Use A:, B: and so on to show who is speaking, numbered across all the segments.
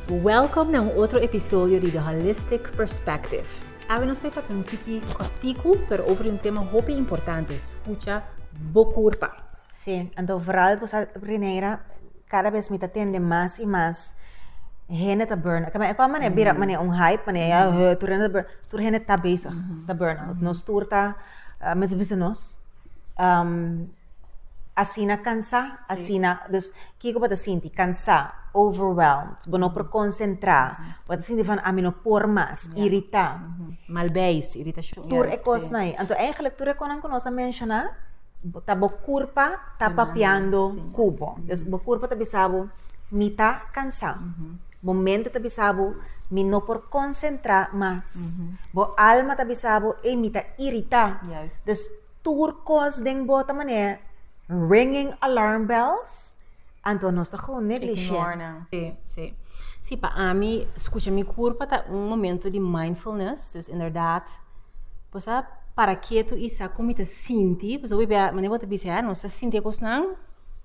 A: Welcome na un otro episodio di The Holistic Perspective. Awe nos ta tabata un tiki corticu pero over di un tema hopi importante, scucha bo curpa. Sí, anto vooral ku sa Rineira, kada bes mi ta tende mas i mas hende ta burn-out. Kaba e kon mane bira mm. mane un hype, mane ya mm-hmm. tur hende ta burn, tur hende ta bezig ta burn-out. Nos tur ta, men ta bisa nos, um, asina cansá, asina, dus, kiko bata sinti? Cansá, overwhelmed, bo no por concentrá, bata sinti van, ami no por mas, yeah. irritá. Mm -hmm. Malbeis, irritación. Tur e cos na Anto, eigenlijk, tur e conan que nos a mencioná, ta bo curpa ta papiando cubo. Mm -hmm. Dus, bo curpa ta bisabo, mita cansá. Mm -hmm. Momento ta bisa bo, Mi no por konsentrá mas. Bo alma ta bisa bo, Ey, mi ta iritá. Juist. Dus tur kos den bo ta manera ringing alarm bells, anto nos ta gewoon negligieer. Ignore nan. Sí, sí. Sí, pa ami, skucha mi kurpa ta un momento di mindfulness. Dus inderdaad, bo sa para ketu i sa kon mi ta sinti. Pasobra bo a biaha, manera bo ta bisa'e, nos ta sinti e kosnan.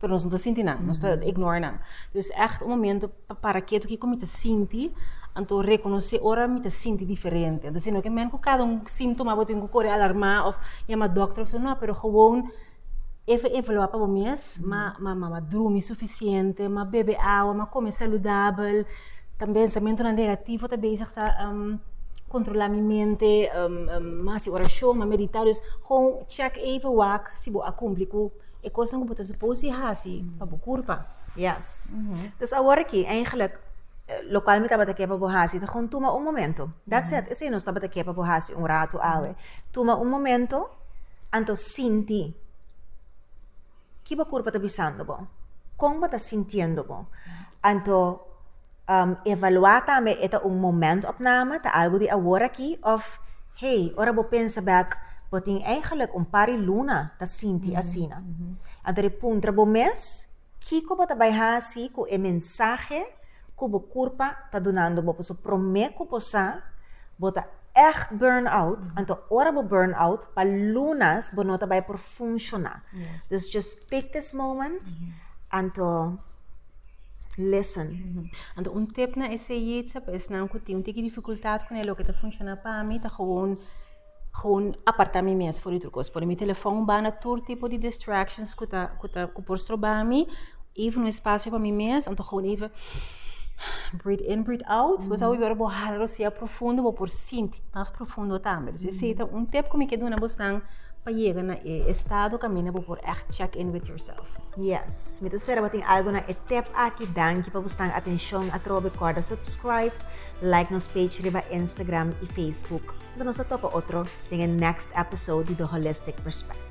A: pero nos no ta sinti nan, nos ta ignore nan. Dus echt un momento pa para ketu kiko mi ta sinti, anto rekonosé ora mi ta sinti diferente. Anto si no ke men ku kada un símtoma bo tin ku kore alarmá of yama dòkter of so, no, pero gewoon even evaluá pa bo mes, ma ma ma drumi sufisiente, ma bebe awa, ma kome saludabel, ta pensamentunan negativo ta bezig ta kontrolá mi mente, ma hasi orashon, ma meditá, dus gewoon chèk even wak si bo a kumpli ku e kosnan ku bo ta supos di hasi pa bo kurpa. Yes. Dus awor aki, eigentlik, lokual mi tabata ke pa bo hasi ta kon tuma un momento. That's it. Esei nos tabata ke pa bo hasi un ratu awe. Tuma un momento, anto sinti ki bo kurpa ta bisando bo. Kon bo ta sintiendo bo. Anto Evaluá tambe e ta un momentopname, ta algu di aworakí òf hey, ora bo pensa bèk, bo tin eingelik un par di luna ta sinti asina. Anto ri puntra bo mes, Kiko bo ta bai hasi ku e mensahe ku bo kurpa ta dunando bo? Pasobra promé ku bo sa, bo ta ègt burn-out, anto ora bo burn-out, pa lunas bo no ta bai por funshoná. Dus just take this moment, anto. listen. Anto un tip na eseyitsa pa esnan ku tin un tiki difikultat ku loke ta funshoná pa mi ta gewoon gewoon apartá mi mes for di tur kos. Pone mi telefon banda tur tipo di distractions ku ta ku ta ku por stroba mi, even un espasio pa mi mes, anto gewoon even breathe in, breathe out. Bo sa ora bo hala rosea profundo bo por sinti mas profundo tambe. Dus esei ta un tip ku mi ke duna bosnan pa yega na e estado kaminda bo por ègt check in with yourself. Yes, mi ta spera bo tin algo na e tep aki. Danki pa bo stan atencion atrobe. Corda subscribe, like nos page riba Instagram y Facebook. Unda nos ta topa otro den e next episode di The Holistic Perspective.